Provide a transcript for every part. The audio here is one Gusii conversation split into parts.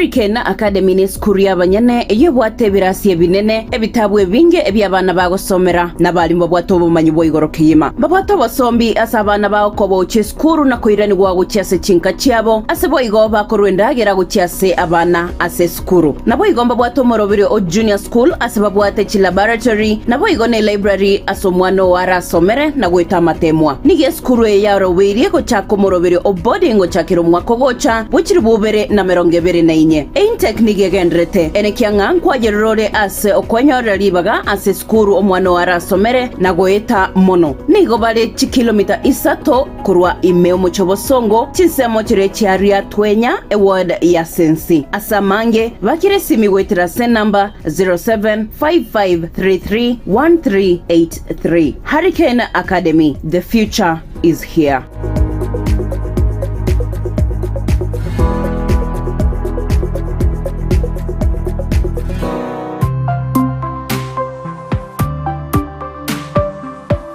Hurricane Academy nesukuru y'abanyene eyio ebwate ebirasi ebinene, ebitabu ebinge ebi'abana bagosomera, na abalimu babwate obomanyi bwa igoro kegima. Mbabwate obosombi ase abana bao koba ochia esukuru na koiranigwa gochia ase chinka chiabo, ase boigo bakorwa endagera gochia ase abana ase esukuru. Sukuru. Naboigo mbabwate omorobiri o Junior School ase babwate chilaboratory, naboigo ne library ase omwana oo arasomere na goeta amateemwa. Nigo esukuru eye yarobeirie gochaka omorobiri o boarding gochakera omwaka ogocha bwe chilifu ibere na merongo ebere na inye. Eintake nigo egenderete ene kiang'a nkwayerora ore ase okwenyorera ribaga ase esukuru omwana oo arasomere na goeta mono. Nigo bare chikilomita isato. Korwa ime omochie obosongo, chinsemo chiria chiaria twenya eword ya sensi. Ase amange, bakire esimi goetera ase enamba 0755331383. Harry Kane Academy, the future is here.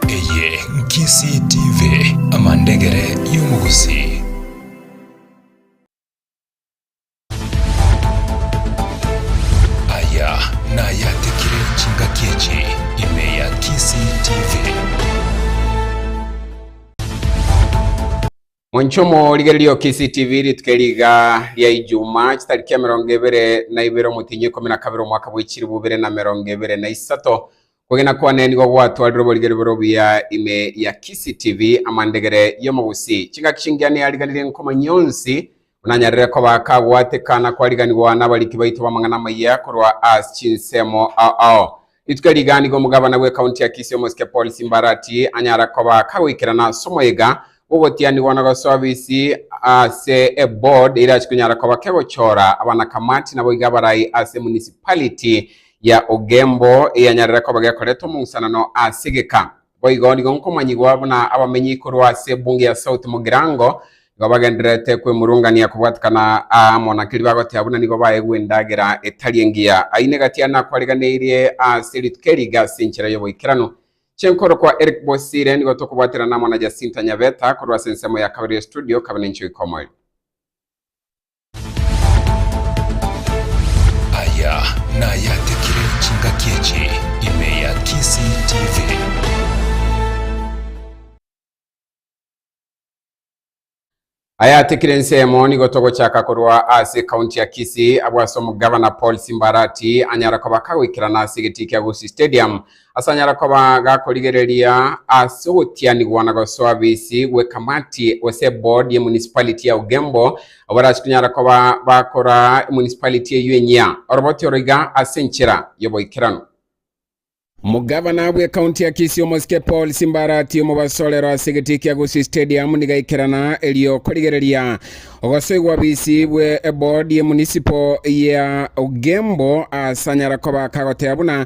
Eye Nkisii TV, amandegere y'omogusii. Aya nayatekire chingaki echi ime ya Kisii TV. Monchomo rigererio Kisii TV rituko eriga ria Ijumaa chitariki emerongo ebere na ibere omotienyi ikomi na kabere omwaka bw'echiribu bibere na merongo ebere na isato. Kwegena kwane nigo gwatwarire oborigeri bore obuya ime ya Kisii TV, amandegere y'omogusi. Chingaki chingiya neyariganirie nkomanyia onsi Onanyarire koba akagwatekana kwariganigwa nabariki baito b'amang'ana amayia korwa as chinsemo ao. Rituko riga nigo omogabana bw'ekaunti ya Kisii omosike Paul Simbarati anyara koba akagoikerana as omoyega bw'ogotianigwa na gosoa bisi ase eboard eria chikonyara koba kegochora abanakamati nabo iga abarai ase emunicipality ya Ugembo eyanyarire koba gekoreta omong'usanano as egeka Boigo nigo nkomanyigwa buna abamenyi korwa ase ebunge ya South Mugirango nigo bagendererete kwemurungania kobwatekana aa amo na keria bagoteba buna nigo baegwa endagera etari engiya. Ayio negati ande nakwareganeirie ase rituko eri iga ase enchera y'oboikeranu. Chenkoro kwa Eric Bosire nigo tokobwaterana amo na Jacinta Nyabeta korwa ase ensemo ya kabere ya estudio Kabenencho Ikomoyo. Aya nayatekire chingaki echi ime ya Kisii TV. Ayatekire ensemo nigo togochaka korwa ase county ya Kisii abwo ase omogavana Paul Simbarati anyara koba kagoikerana ase egetii kia Gusii Stadium Asanyare koba gakorigereria ase ogotianigwa na gosoa bisi gw'ekamati gose eboard ye municipality ya Ugembo abarachi konyara koba bakora emunicipality eyio enyia oroboti oro iga ase enchera y'oboikeranu. Omogavana bw'ekaunti ya Kisii omosike Paul Simbarati omobasorero ase egetii kia Gusii Stadium niga aikerana erio korigereria ogosoigwa bisi bwe eboard ye municipal ya Ugembo asanyare koba kagoteba buna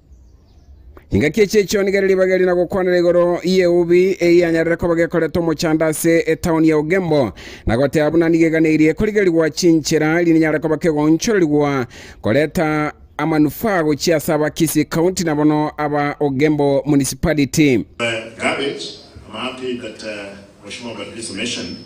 Engaki echi echi'onigera ribaga eri na gokwanera igoro y'eubi eyanyarire koba gekoreta omochando ase etaoni ya Ugembo, na goteba buna nigo eganeirie korigerigwa chinchera erio ninyare koba kegoonchorerigwa koreta amanufaa gochia ase aba Kisii County na bono aba Ugembo Municipality. The garbage, ama pipe at uh, Oshima Ubatizo Mission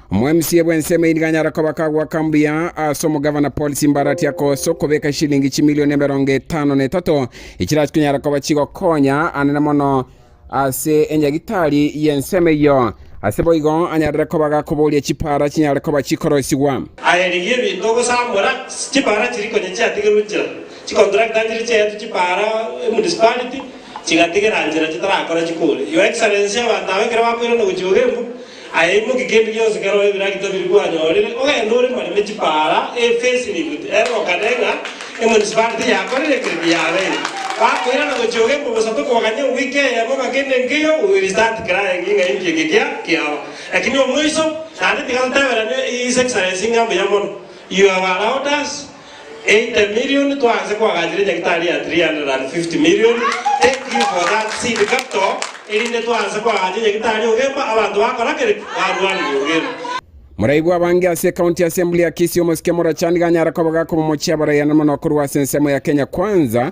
Omwamiseri bw'ensemo eyio nigo anyare koba kagwaka mbuya ase omogavana Paul Simbarati akosa okobeka eshilingi chimilioni emerongo etano na etato echirase konyara koba chigokonya anene mono ase enyagitari y'ensemo eyio. Ase boigo anyarire koba gakoboria chipaara chinyare koba chikoroisigwa. Aye rigia ebinto ogosamora chipaara chiria konya chiatigerwe nchera, chicontractor chiria chiaetwe chipaara emunicipality chigatigera nchera chitarakora chikore. Your excellency abanto aba ekero bakoirana gochia Ogembu Aye imokia kende gionsi kerore ebiragita biria kwanyorire, ogende ore mareme chipaara, efesi na eguta. Ere okane ng'a emunisipality tiyakorire ekero ebi yabeire. Bakoirana gochia iga imbe bosato koganya ewiki eyemo ng'a kende nkeiyo we will start crying ng'a inki eke kia kiaba. Lakini omoiso naende tiga toteberane His Excellency ng'a mbuya mono, you have allowed us, 80 million twanse koagachera nyagitari ya 350 million thank you for that seed capital erinde twanse koagacha nyagitari ogemba abanto bakora kere barwanirie ogima. Moraigwa abange ase ecounty assembly ya Kisii omosike Murachani ganyara koba gakoba omochie abaraiane mono korwa ase ensemo ya Kenya Kwanza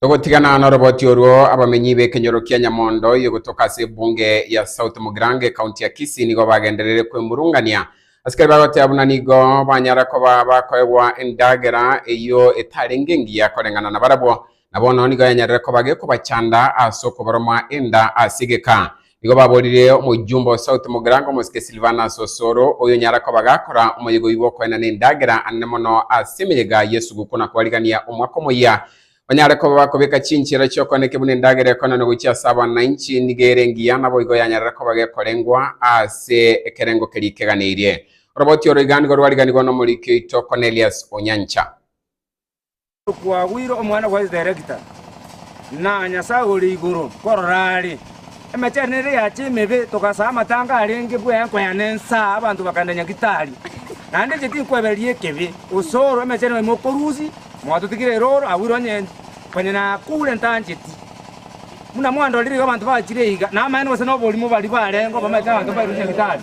Togotigana noroboti orwo, abamenyi b'ekenyoro kia Nyamondo eye gotoka ase ebunge ya South Mugirango ekaunti ya Kisii nigo bagenderere kwemurungania asikari bagoteba buna nigo banyara koba bakoegwa endagera eyio etarenge engiya koreng'ana nabarabwo Na bono nigo yanyarire koba gekobachanda ase okobaroma enda ase egeka. Nigo baborire omoyumba o South Mogirango omosike Silvanus Osoro, oyo nyara koba gakora omoyega oyi bw'okoenana endagera anene mono ase emeyega y'esuguku na kwarigania omwaka omoyia. Banyare koba bakobeka chinchera chi'okoeneke buna endagera ekoenanwa gochia ase abananchi, nigo ere engiya naboigo yanyarire koba gekorengwa ase ekerengo keria keganeirie. Oroboti oro iga nigo rwariganigwa n'omoriki oito Cornelius Onyancha. Kwagwire omwana bwa Esererekita, na Nyasae ore igoro korora are. Emechando ere yacha emebe, togasaa amatanga arenge bw'enko ya nensa, abanto bakagenda Nyagitari. Naende inche tinkwebereria ekebi, gose oro emechando yaino mokorusi, mwatotigire ere oro agwire onye konya nakoure ntancheti. Buna mwandorire iga abanto bachire iga, namaene gose noborimo baria barengeo bamaete abanto bairusie Nyagitari.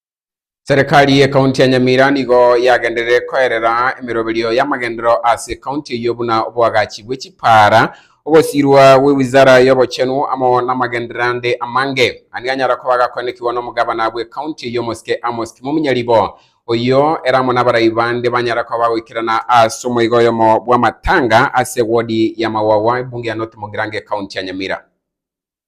Serekari y'Ekaunti ya Nyamira nigo yagenderire koerera emeroberio y'amagendero ase ekaunti eyio buna oboagachi bwe chipaara, ogosirwa gwe Wizara y'Obochenu amo namagendero ande amange. Aya nigo anyara koba agakoenekigwa n'omogabana bw'ekaunti eyio Omosike Amos Kimomunyaribo, oyio ere amo nabarai bande banyara koba bagoikerana ase omoiga oyomo bw'amatanga ase ewodi ya Mawagwa, ebunge ya North Mogrange, ekaunti ya Nyamira.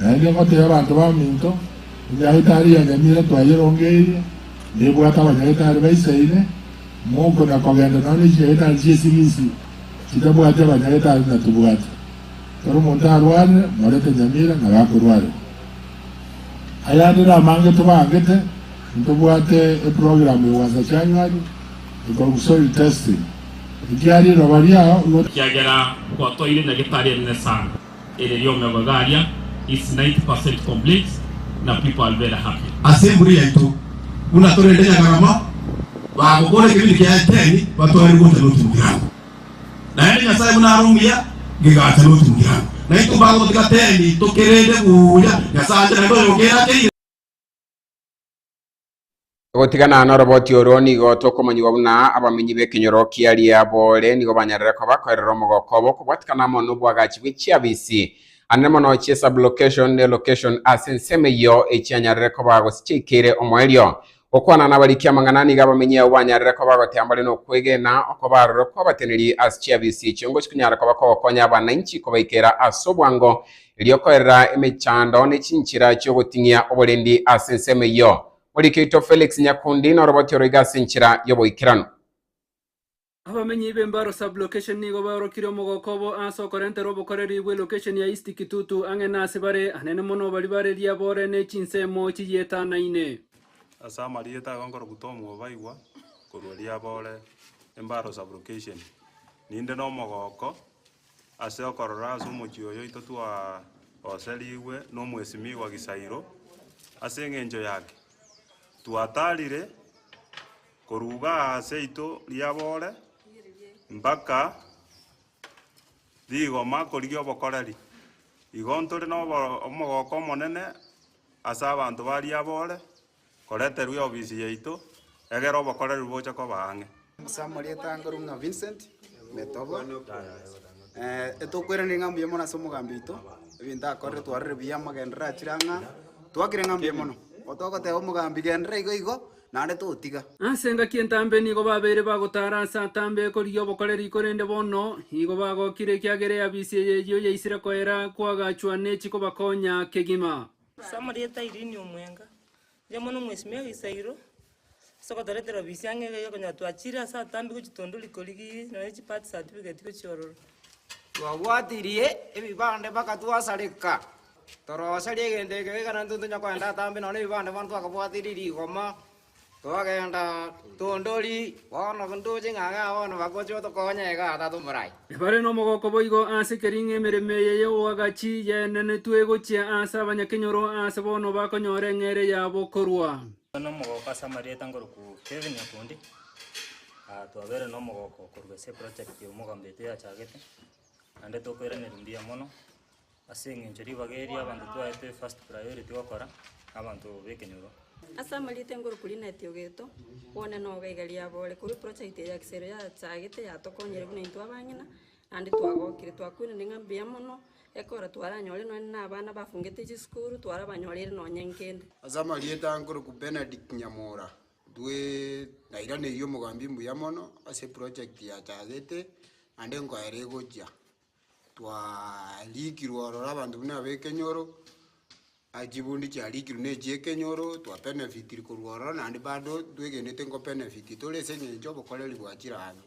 Naende ngotebie abanto baminto, Enyagetari ya nyamira twayerongeirie, nebwate abanyagetari baisaine, monko na kogenda nonya ne chinyagetari chi'esibisi chitabwati abanyagetari na tibwati. Ekero omonto arwarire, morete nyamira na bakorwarerwa. Ayande namange tobaangete, intobwate eprogram ya gwansa January ekorokwa soil testing, ekiaria riroba riao igo. Ekiagera gwatoire enyagetari enene sana, Ere riomegoe garia it's 90 percent complete na people are very happy. Ase emburi yaito buna torende Nyagarama bagokora ekebindi kiaye ten batware gocha North Mugirango naende Nyasaye buna are omuya gegacha North Mugirango naintwe bagotiga ten tokerende buya Nyasaye ache naende oyogeakeire. Gotigana noroboti oro, nigo tokomonyigwa buna abamenyi b'ekenyoro kia Liabole nigo banyarire koba koerera omogoko obo okobwatikana amo nobwagachi bwe chiabisi anene mono chie sublocation ne location ase ensemo eyio echianyarire koba gose chiaikeire omoerio. Gokwana nabariki amang'ana, nigo abamenyi abwo banyarire koba gotea mbare nokwegena okoba aroro kwabateneri ase chiabisi echio ngochia konyara koba kogokonya abanainchi kobaikera ase obwango erio korera emechando ne chinchera chi'ogoting'ia oborendi ase ensemo eyio. Morikeito Felix Nyakundi noroboti oroiga ase enchera y'oboikeranu. Abamenyi b'Embaro Sub-Location nigo baorokire omogoko obo ase okorentera obokoreri bwe Location ya East Kitutu ang'e nase bare anene mono baria bareria bore ne chinsemo chiyietanaine. Ase amarieta aya nkorokwa Tom Obaigwa korwa Riabore Embaro Sub-Location. Ninde nomogoko Ase okorora ase omochie oyo oito twagoserigwe nomwesimigwa Gisairo, ase engencho yake twatarire koruga aase ito riabore mpaka rigoma korigia obokoreri. Igo ntore nomogooko omonene ase abanto ba riabore Koreterwa eofisi yaito, egera obokoreri boche koba ang'e. Ase amarieta angerwa ng'a Vincent Metobo, etokweranire ng'a mbuya mono ase omogambi oito, ebinto akorire twarorire buya amagenderero achire ang'e aa, twakire ng'a mbuya mono. Gotogoteba omogambi genderera igo igo, naende totiga. Ase engaki entambe nigo babeire bagotara ase atambe ekorigia obokoreri korende bono nigo bagokire ekiagera eafisi eye eyio yaisire koera kwagachwa ne chikobakonya kegima. Ase amarieta a Irini omwenga, riria mono mwesimia egesairo ase ogotoretera bisia ng'a iga iga konyora twachire ase atambe gochia tondori korigi nonya chi birth certificate gochia ororo. Twabwatirie ebibande mpaka twasareka. Torosaria egento ekio ekero intwe ntonya koenda atambe nonye ne ebibande bono twakabwatirie rigoma. “Togenda, tondori, bono ndoche ng'a iga bono bagocha otokonya iga ata tomorai.” Ebare nomogooko boigo ase ekeriing'a emeremo eye y'oboagachi yaenenetwe egochia ase abanyakenyoro aase bono bakonyora eng'eria yabo korwa. Tware nomogooko ase amarieta nkorokwo Kevin Nyakundi, twabeire nomogooko korwa ase eproject ya omogambeitu yachagete, naende tokoiraneria mbuya mono, Ase engencho ribaga eria abanto twaetwe first priority gokora nabanto bekenyoro. Ase amarita engoroku rinde etiogeto, one noga iga riabo ore korwa eproject eye ya kisero yachagete yatokonyire buna intwe abang'ina naende twagokire. Twakwenire ng'a mbuya mono ekora twaranyore nonye na abana bafungete chisukuru twarabanyorire nonye nkende. Ase amarieta nkoroku Bernard Nyamura, intwe nairaneiri omogambi mbuya mono ase eproject yachagete naende nkoera egochia. Twarikirwe ororo abanto buna abekenyoro, chibundi chiarikirwe ne chiekenyoro, twa benefitire korwa ororo naende bado twegenete nko benefit tore ase eng'encho obokoreri bwa chiraabe.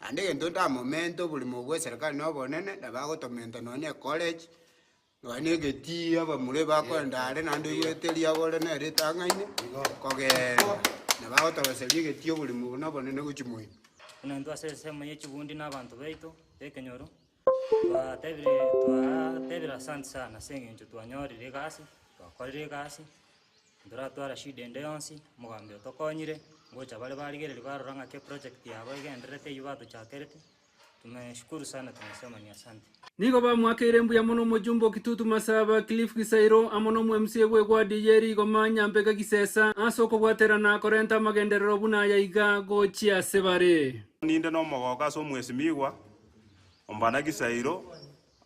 Naende egento ntamomente oborimo bwa eserekari na obonene, nabagotomenta nonye ecollege. Nonya negetii abamure bakorenda are naende oigwete riagore ne ritang'aine, kogeenda, na bagotoroseria egetii oborimo buna bonene gochia moino. Buna intwe ase ensemo ye chikundi na abanto baito b'ekenyoro, twabatebire twabatebire asanti sana ase eng'encho twanyorire egasi, twakorire egasi, ntoratwara shida ende yonsi, omogambi otokonyire, ngocha bare barigereria barora ng'aki eprojekti yabo egendererete eywo batochakerete. Tumeshukuru sana tumesema ni asante. Nigo bamoakeire mbuya mono Omojumbe o Kitutu Masaba, Cliff Gisairo, amo na Omwemsie bw'Egwadi ye Rigoma, Nyambega Gisesa, ase okobwaterana korenta amagenderero buna aya iga gochia ase bare. Ninde nomogooko ase Omwesimigwa Ombana Gisairo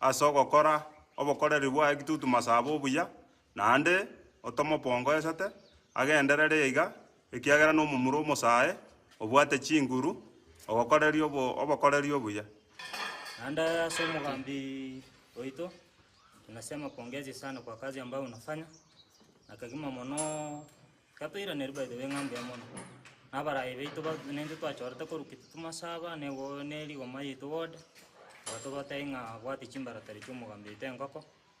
ase ogokora obokoreri bwaye Kitutu Masaba obuya, Naende otomopongoesete agenderere iga, ekiagera nomomura omosae, obwate chinguru, ogokoreria obo- obokoreri obuya. Naende ase omogambi oito tunasema pongezi sana kwa kazi ambayo unafanya, na kegima mono gatoiraneria by the way ng'a mbuya mono. Na abarai baito ba- nintwe twachorete korwa gete tomasaba na ego- ne rigoma yaito ward, igo tobatebia ng'a bwati chimbara tari chiomogambi oito engoko,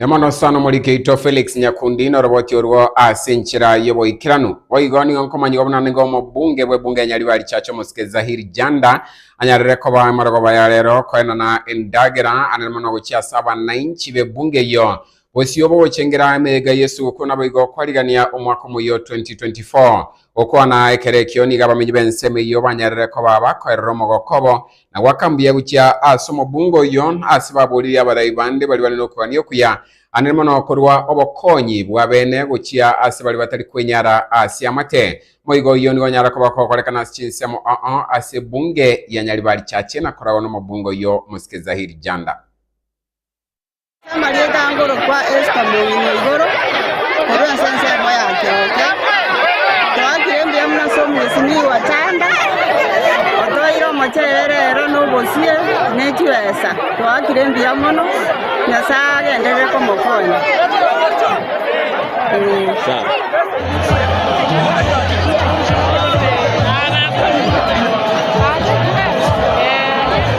Na mono sana omoriki oito Felix Nyakundi noroboti orwo ase enchera y'oboikeranu. Boigo nigo nkomanyigwa buna nigo omobunge bw'ebunge ya Nyaribari Richache omosike Zahir Janda anyarire koba amarogoba ya rero koenana endagera anene mono gochia ase abanainchi b'ebunge eyio bosio bogochengera emeyega y'esugukuu naboigo kwarigania omwaka omoyio 2024. Gokwana ekero ekio nigo abamenyi b'ensemo eyio banyarire koba bakoerera omogoko obo na goaka mbuya gochia ase omobunga oyio, ase baboririe abarai bande baria bare nokogania okuya, anene mono korwa obokonyi bw'abene gochia ase baria batari kwenyara ase amate. Moigo oyio nigo onyara koba okogorekana ase chinsemo, oo, ase ebunge ya Nyaribari Church, na koragwa nomobunga oyio Mosike Zahir Janda. Amarieta angorokwa Esta mong'ina igoro, korwa ase ensemo yake oke, toakire mbuya buna ase omosimi wa chanda, otoire omochere ere ero nobosie ne chibesa, toakire mbuya mono, Nyasae agenderere komokonya. Ee.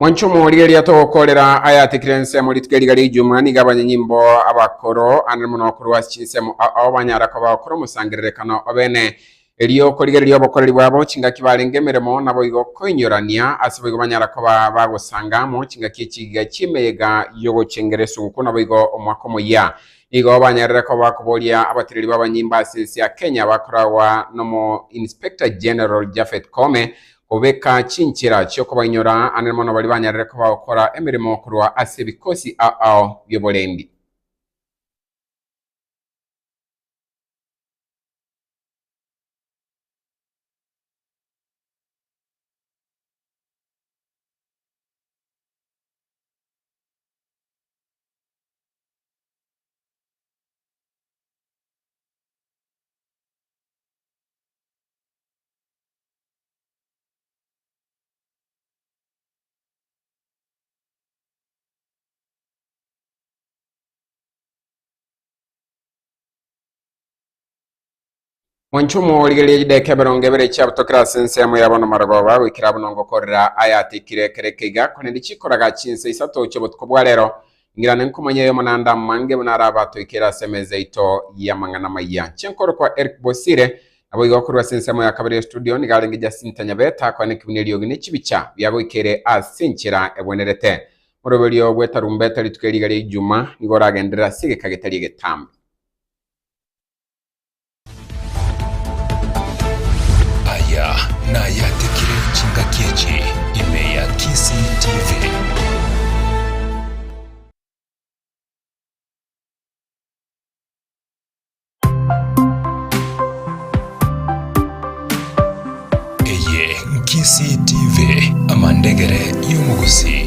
Mwanche omorigereria togokorera ayatikire ensemo rituko riga ri'Ijumaa nigo abanyanyimbo abakoro ande mono korwa ase chinsemo ao banyara koba gokora omosangererekano obene. Erio okorigereria obokoreri bwabo chingaki barenge emeremo naboigo koinyorania, ase boigo banyara koba bagosanga amo chingaki echigiga chi'emeyega y'ogochengera esugukuu naboigo omwaka omoyia. Nigo banyarire koba bakoboria abatereri b'abanyimbo ase ense ya Kenya bakoragwa n'omo Inspector General Japhet Koome Obeka chinchera chi'okobainyora ande mono baria banyarire koba gokora emeremo korwa ase ebikosi aao bi'oborendi. Mwancho mworigereria chideka emerongo ebere chiabutokera ase ensemo yabo nomarogoba goikera buna ongokorera ayatikire kere keiga, korende chikoraga chinsa isato chiobotuko bwa rero, Ng'irane nkomanya eyomo naende amange buna ara abatoikire ase emeza yaito y'amang'ana amaya. Chinkoro kwa Eric Bosire. Naboigo korwa ase ensemo ya kabere y'estudio nigo arenge Jacinta Nyabeta akwanekigwe neriogi ne chibicha biagoikeire ase enchera egwenerete. Moroberio bw'etarumbeta rituko eriga ria Ijumaa nigo oragenderere ase egeka getari egetambe. Aya nayatekire chingaki echi ime ya Kisii TV. Eye Nkisii TV, amandegere y'omogusii.